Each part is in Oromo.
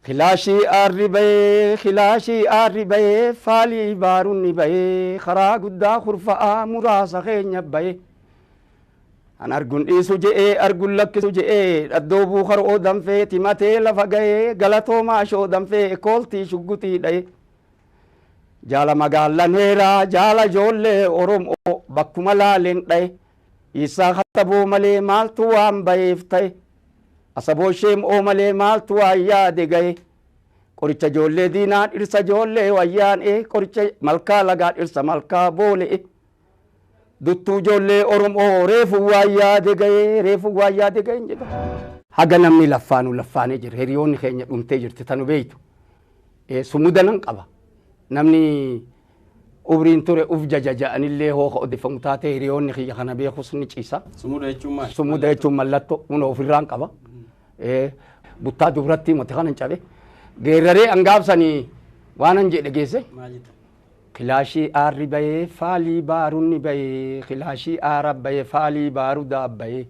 Kilaashii aarri ba'ee kilaashii aarri ba'ee faalii baarunni ba'ee karaa guddaa kurfa'aa muraasa keenya ba'ee An argun dhiisu je'ee argun lakkisu je'ee dhaddoo buukaroo danfee timatee lafa ga'ee galatoomaa shoo danfee kooltii shugguxii dha'ee Jaala magaallan heeraa jaala ijoollee Oromoo bakkuma laaleen dha'e Iissaa kattaboo malee maaltu waan ba'eef ta'e Asaboo sheem oo malee maaltu waan yaade gahe Qoricha joollee diinaa dhirsa joollee wayyaan ee Qoricha malkaa lagaa dhirsa malkaa boole ee Duttuu joollee oromoo reefu waan yaade gahe reefu waan yaade gahe hin jedha. Haga namni laffaanu laffaanee jira hiriyoonni keenya dhumtee jirti tanu beeytu sumuda nan qaba namni Umriin ture uf jaja ja'anillee hoo ka odeffamu taate hiriyoonni kiyya kana beekus ni ciisa. Sumuda jechuun maali? Sumuda jechuun mallattoo kunoo ofirraan qaba. Buttaa dubrattii moti kanan cabe. Geerraree an gaabsanii waanan jedhe geesse. Maal jettan? Kilaashii aarri bayee faalii baarunni bayee kilaashii aara bayee faalii baarudaa bayee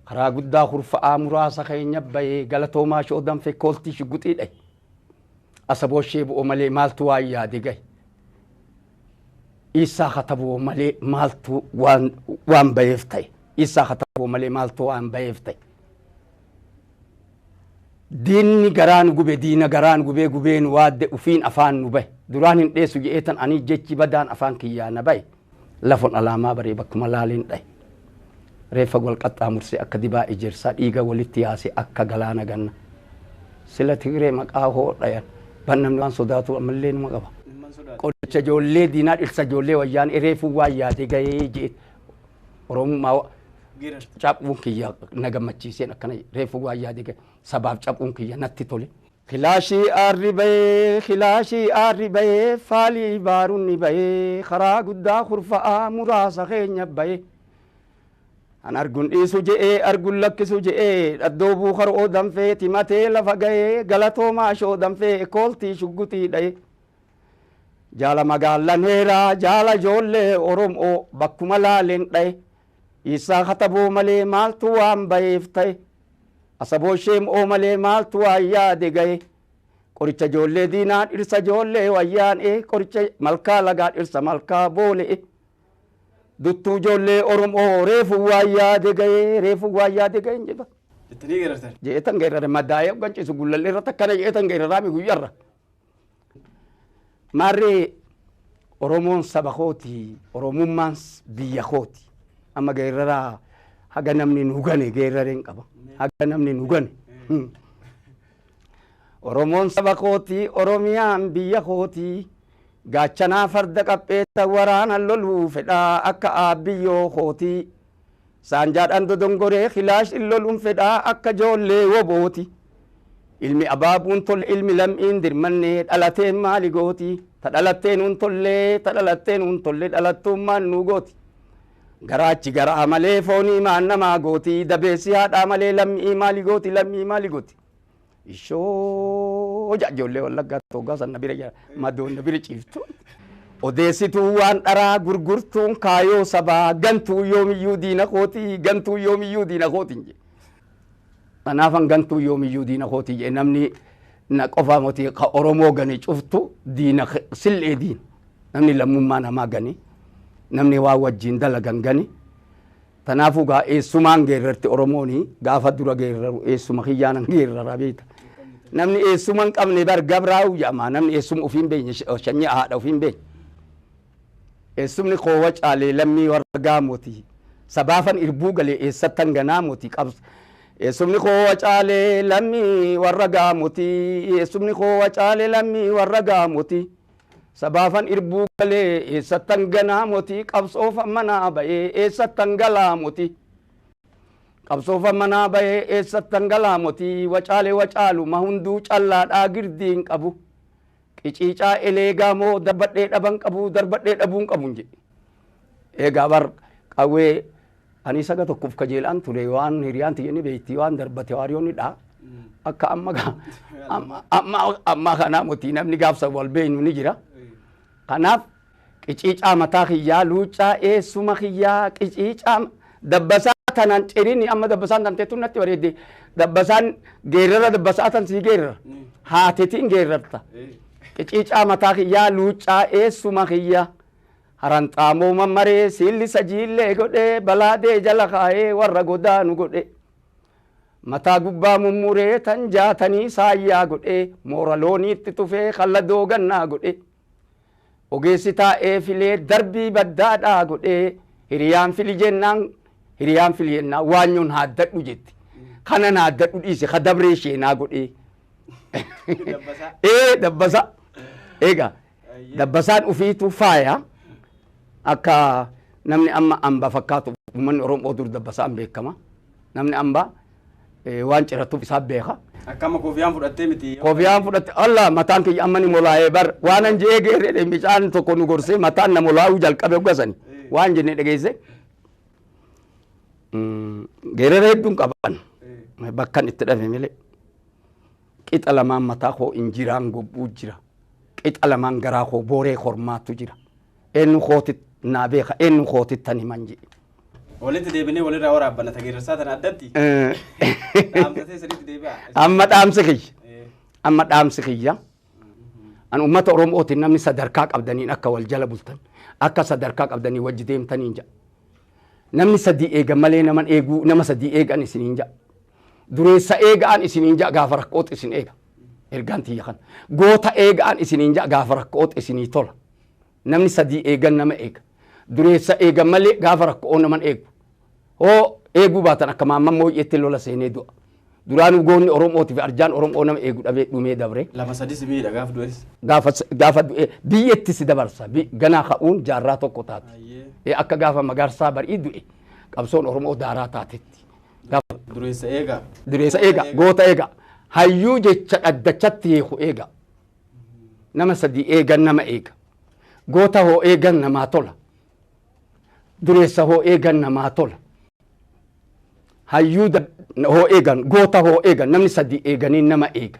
karaa guddaa kurfa'aa muraasa keenya bayee galatoomaa shoodan fekkooltii shugguxii dhahe. Asaboo ishee bu'oo malee maaltu waan yaade gahe. Iissaa kataboo malee maaltu waan waan baheef ta'e. Iissaa kataboo malee maaltu waan baheef ta'e. Diinni garaa nu gube diina garaa nu gubee gubee nu waadde ufiin afaan nu bahe. Duraan hin dheessu je'eetan ani jechi badaan afaan kiyyaa na bahe. Lafon alaamaa baree bakkuma laaleen dhahe. Reeffa wal qaxxaamursee akka dibaa ejersaa dhiiga walitti yaase akka galaana ganna. Sila Tigree maqaa hoo dhayan ban namni waan sodaatuu ammallee numa qaba. Qoricha ijoollee diinaa dhirsa ijoollee wayyaanee reefuu waan yaadee gahee je'e Oromummaa caphuun kiyya na gammachiiseen akkana reefuu waan yaadee gahe sabaaf caphuun kiyya natti tole. Kilaashii aarri ba'ee kilaashii aarri ba'ee faalii baarunni ba'ee karaa guddaa kurfa'aa muraasa keenya ba'ee An argun dhiisu je'ee argun lakkisu je'ee dhaddoo buukaroo danfee timatee lafa ga'ee galatoomaa shoo danfee ekooltii shugguxii dha'ee Jaala magaallan heeraa jaala ijoollee Oromoo bakkuma laaleen dha'ee Dhiissaa kataboo malee maaltu waan ba'eef ta'e Asaboo sheem oo malee maaltu waan yaade gahe Qoricha ijoollee diinaa dhirsa ijoollee wayyaanee Qoricha malkaa lagaa dhirsa malkaa boole'e Duttuu ijoollee Oromoo reefu waan yaade gahe reefu waan yaade gahe jedha. Jettanii geerartan. Jeetan geerare madaa'ee hoggan ciisu gullallee irratti akkana jeetan geeraraami guyyarra. Maarree Oromoon saba kooti, Oromummaan biyya kooti. Amma geerraraa haga namni nu gane geerrareen qaba. Haga namni nu gane. Oromoon saba kooti, Oromiyaan biyya kooti. Gaachanaa farda qapheessa waraana loluu fedhaa akka aabbiyyoo kooti. Saanjaadhaan dodongoree kilaashin loluun fedhaa akka joollee wobooti. Ilmi abaabuun tolle ilmi lam'iin dirmanne dhalateen maali gooti? Ta dhalattee nuun tolle ta dhalattee nuun tolle dhalattuummaan nuu gooti. Garaachi garaa malee foonii maan namaa gooti? Dabeessi haadhaa malee lammi'ii maali gooti lammi'ii maali gooti? Ishoo ja ijoollee wallaggaa toggaa san na bira jira madoon na bira ciiftu. Odeessituu waan dharaa gurgurtuun kaayoo sabaa gantuu yoomiyyuu diina kooti gantuu yoomiyyuu diina kooti hin jedhe. Kanaafan gantuu yoomiyyuu diina kooti jedhe namni na qofaa moti ka Oromoo gane cuftu diina sil'ee diina namni lammummaa namaa gane namni waa wajjin dalagan gane. Tanaafuu gaa eessumaan geerrarti Oromooni gaafa dura geerraru eessuma kiyyaanan geerrara beekta. Namni eessuma hin qabne bar gabraawu jedhama namni eessuma ofii hin beekne shanyii haadha ofii hin beekne. Eessumni koo Wacaalee lammii warra Gaamooti. Sabaafan irbuu gale eessattan ganaa mooti qabs Eessumni koo Wacaalee lammii warra Gaamooti. Eessumni koo Wacaalee lammii warra Gaamooti. Sabaafan irbuu galee eessattan ganaa motii qabsoofan manaa bayee eessattan galaa motii qabsoofan manaa bayee eessattan galaa motii wacaale wacaaluma hunduu callaadhaa girdiin qabu qiciicaa eleegaa moo darbadhee dhaban qabu darbadhee dhabuun qabun jedhe. Egaa bar qawwee ani saga tokkoof kajeelaan ture waan hiriyaan tiyya ni beekti waan darbate waariyoo ni dha. Akka amma ga- amma- amma amma kanaa motii namni gaafsa wal beeknu ni jira. Kanaaf qiciicaa mataa kiyyaa luuccaa eessuma kiyyaa qiciicaa dabbasaa tanaan cirini amma dabbasaan tan teettu natti bareedde dabbasaan geerrara dabbasaa tan sii geerrara haatetiin geerrarta. Qiciicaa mataa kiyyaa luuccaa eessuma kiyyaa. Haranxaamoo mammaree siillisa jiillee godhee balaadee jala kaa'ee warra godaanu godhee mataa gubbaa mummuree tan jaatanii saayyaa godhee moora looniitti tufee kan ladoo gannaa godhee ogeessi taa'ee filee darbii baddaadhaa godhee hiriyaan fili jennaan hiriyaan fili jennaan waanyoon haaddadhu jetti kanan haaddadhu dhiise ka dabree sheenaa godhee ee dabbasa egaa Dabbasaan ufiitu faaya akka namni amma amba fakkaatu uummanni Oromoo dur dabbasaan beekama. Namni amba waan ciratuuf isaa beeka. Akka amma koofiyaan fudhattee miti. Koofiyaan fudhatte alla mataan kiyya amma ni molaa'ee bar waan an je'ee geerree micaan tokko nu gorsee mataan na molaa'uu jalqabe hoggasani waan jennee dhageesse. Geerree hedduun qaban bakkan itti dhabe malee. Qixa lamaan mataa koo injiraan gobbuu jira. Qixa lamaan garaa koo booree kormaatu jira. Eennu kootit naa beeka eennu kootittan himan jedhe. Walitti deebinee walirraa waraabbanna tageerarsaa tana addatti. Dhaamsa ta'e sirriitti deebi'a. Amma dhaamsi kiyya. Eh, Amma dhaamsi kiyya. An uummata Oromootiin namni sadarkaa qabdaniin akka wal jala bultan akka sadarkaa qabdanii wajji deemtaniin jedha. Namni sadii eegan malee naman eeguu nama sadii eegan isiniin jedha. Dureessa eega'aan isiniin ja'a gaafa rakko'otti isin eega. Ergaan tiyya kana. Goota eega'aan isiniin ja'a gaafa rakko'otti isinii tola. Namni sadii eegan nama eega. Dureessa eegan malee gaafa rakko'oo naman eegu. Hoo eeguu baatan akka maamman mooyyeetti lola seenee du'a. Duraanuu goonni Oromootii fi arjaan Oromoo nama eegu dhabee dhumee dabre. Lama sadii si miidha gaafa du'es. Gaafa s- gaafa du'e biyyetti si dabarsa. Bi- Ganaa ka'uun jaarraa tokko taati. Ayyee. Eh, Akka gaafa magaarsaa barii du'e qabsoon Oromoo daaraa taatetti. Gaafadhu. Dureessa eegaa. Dureessa eega, goota eega, hayyuu jecha dhaddachatti hiiku eega. Nama sadii eegan nama eega. Goota hoo eegan namaa tola. Dureessa hoo eegan namaa tola. Hayyuu da- hoo eegan, goota hoo eegan, namni sadii eeganii nama eega.